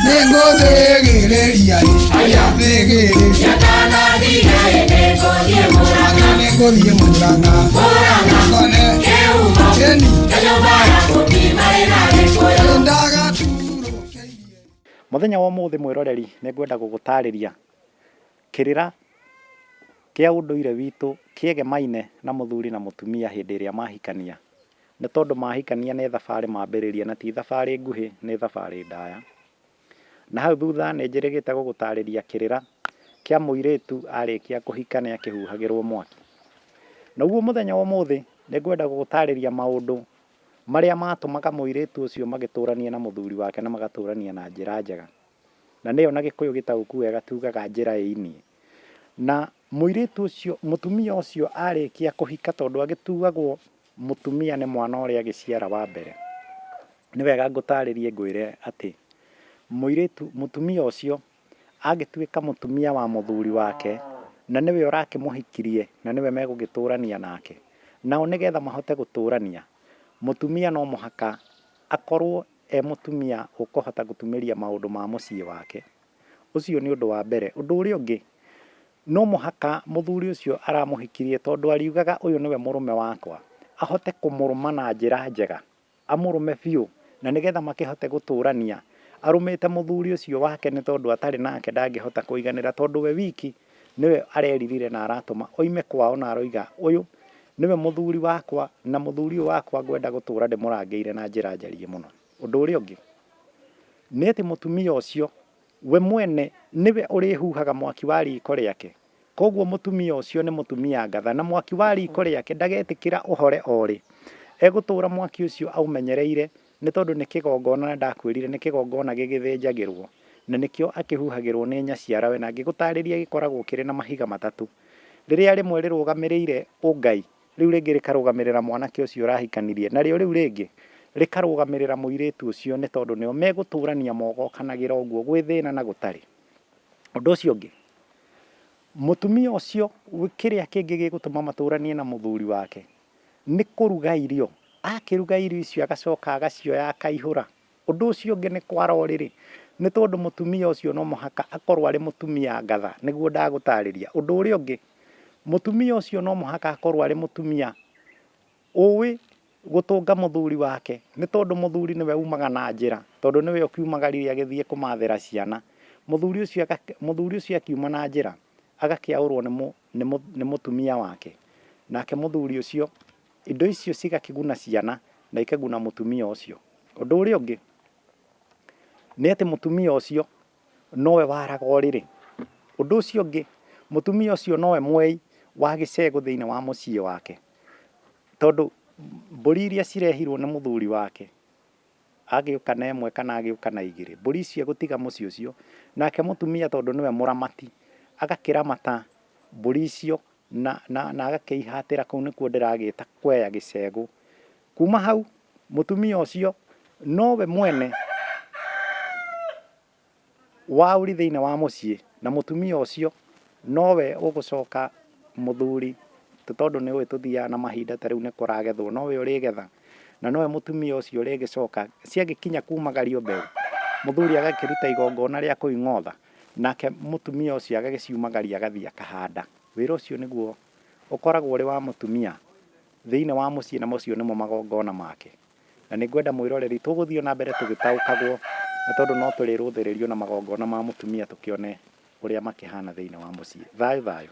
nĩngũthĩgĩrĩria aya thĩgĩrĩria mũranga nĩngũthiĩ mũranga ngone keni ndagatũrũkĩirie Mũthenya wa ũmũthĩ mwĩroreri nĩ ngwenda gũgũtarĩria kĩrĩra kĩa ũndũire witũ kĩegemaine na mũthuri na mũtumia hĩndĩ ĩrĩa mahikania. Nĩ tondũ mahikania nĩ thabarĩ mambĩrĩria na ti thabarĩ nguhĩ, nĩ thabarĩ ndaya. Na hau thutha nĩ njĩrĩgĩte gũgũtarĩria kĩrĩra kĩa mũirĩtu arĩkia kũhika nĩ akĩhuhagĩrwo mwaki. Naguo mũthenya wa ũmũthĩ nĩ ngwenda gũgũtarĩria maũndũ marĩa matũmaga mũirĩtu ũcio magĩtũranie na mũthuri wake na magatũrania na njĩra njega. Na nĩyo na gĩkũyũ gĩtaũku wega tugaga njĩra ĩinie. Na mũirĩtu ũcio, mũtumia ũcio arĩkia kũhika tondũ agĩtuagwo Mũtumia nĩ mwana ũrĩa agĩciara wa mbere. Nĩ wega ngũtaarĩrie ngwĩre atĩ mũirĩtu, mũtumia ũcio angĩtuĩka mũtumia wa mũthuri wake, na nĩwe ũrakĩmũhikirie, na nĩwe megũgĩtũrania nake, nao nĩgetha mahote gũtũrania, mũtumia no mũhaka akorwo e mũtumia ũkũhota gũtumĩria maũndũ ma mũciĩ wake. Ũcio nĩ ũndũ wa mbere. Ũndũ ũrĩa ũngĩ, No mũhaka mũthuri ũcio aramũhikirie tondũ ariugaga ũyũ nĩwe mũrũme wakwa, ahote kũmũrũma na njĩra njega, amũrũme biũ na nĩgetha makĩhote gũtũrania. Arũmĩte mũthuri ũcio wake nĩ tondũ atarĩ nake ndangĩhota kũiganĩra tondũ we wiki nĩwe areririre na aratũma oime kwao na aroiga ũyũ nĩwe mũthuri wakwa na mũthuri ũyũ wakwa ngwenda gũtũra ndĩmũrangĩire na njĩra njariĩ mũno. Ũndũ ũrĩa ũngĩ nĩ atĩ mũtumia ũcio We mwene nĩwe ũrĩhuhaga mwaki wa riiko rĩake. Kwoguo mũtumia ũcio nĩ mũtumia ngatha, na mwaki wa riiko rĩake ndagetĩkĩra ũhore o rĩ. Egũtũũra mwaki ũcio aũmenyereire, nĩ tondũ nĩ kĩgongona, na ndakwĩrire nĩ kĩgongona gĩgĩthĩnjagĩrũo, na nĩkĩo akĩhuhagĩrũo nĩ nyaciarawe, na ngĩgũtaarĩria gĩkoragwo kĩrĩ na mahiga matatũ, rĩrĩa rĩmwe rĩrũgamĩrĩire ũngai, Rĩu rĩngĩ rĩkarũgamĩrĩra mwanake ũcio ũrahikanirie, narĩo rĩu rĩngĩ rĩkarũgamĩrĩra mũirĩtu ũcio, nĩ tondũ nĩo megũtũrania mogokanagĩra ũguo gwĩ thĩna na gũtarĩ. Ũndũ ũcio ũngĩ, mũtumia ũcio kĩrĩa kĩngĩ gĩgũtũma matũranie na mũthuri wake nĩ kũruga irio. Akĩruga irio icio agacoka agacioya akaihũra, Ũndũ ũcio ũngĩ nĩ kwara ũrĩrĩ, nĩ tondũ mũtumia ũcio no mũhaka akorũo arĩ mũtumia ngatha, nĩguo ndagũtaarĩria. Ũndũ ũrĩa ũngĩ, mũtumia ũcio no mũhaka akorũo arĩ mũtumia ũĩ gũtũnga mũthuri wake, nĩ tondũ mũthuri nĩwe umaga na njĩra, tondũ nĩwe ũkiumaga riri agĩthiĩ kũmathĩra ciana. Mũthuri ũcio mũthuri ũcio akiuma na njĩra, agakĩaũrũo nĩ nĩ mũtumia wake, nake mũthuri ũcio... Indo icio cigakĩguna ciana na ikaguna mũtumia ũcio. Ũndũ ũrĩa ũngĩ nĩ atĩ mũtumia ũcio nowe waraga ũrĩrĩ. Ũndũ ũcio ũngĩ mũtumia ũcio nowe mwei wa gĩcegũ thĩinĩ wa mũciĩ wake. Tondũ mbũri iria cirehirwo nĩ mũthuri wake agĩũka na ĩmwe kana agĩũka na igĩrĩ, mbũri icio egũtiga mũciĩ ũcio, nake mũtumia tondũ nĩwe mũramati agakĩramata mbũri icio na, na, na agakĩihatĩra kũu nĩkuo ndĩragĩta kweya gĩcegũ kuma hau mũtumia ũcio nowe mwene wa ũri thĩinĩ wa mũciĩ na mũtumia ũcio nowe ũgũcoka mũthuri tondũ nĩ ũĩ tũthiaga na mahinda ta rĩu nĩ kũragethwo nowe ũrĩgetha na nowe mũtumia ũcio ũrĩgĩcoka ciagĩkinya kumagario mbeũ mũthuri agakĩruta igongona rĩa kũing'otha Nake mũtumia ũcio agagĩciumagaria agathiĩ akahanda. Wĩra ũcio nĩguo ũkoragwo ũrĩ wa mũtumia thĩinĩ wa mũciĩ na macio nĩmo magongona make. Na nĩ ngwenda mwĩroreri tũgũthiĩ o na mbere tũgĩtaũkagwo nĩ tondũ no tũrĩrũthĩrĩrio na magongona ma mũtumia tũkĩone ũrĩa makĩhana thĩinĩ wa mũciĩ. Thayũ thayũ.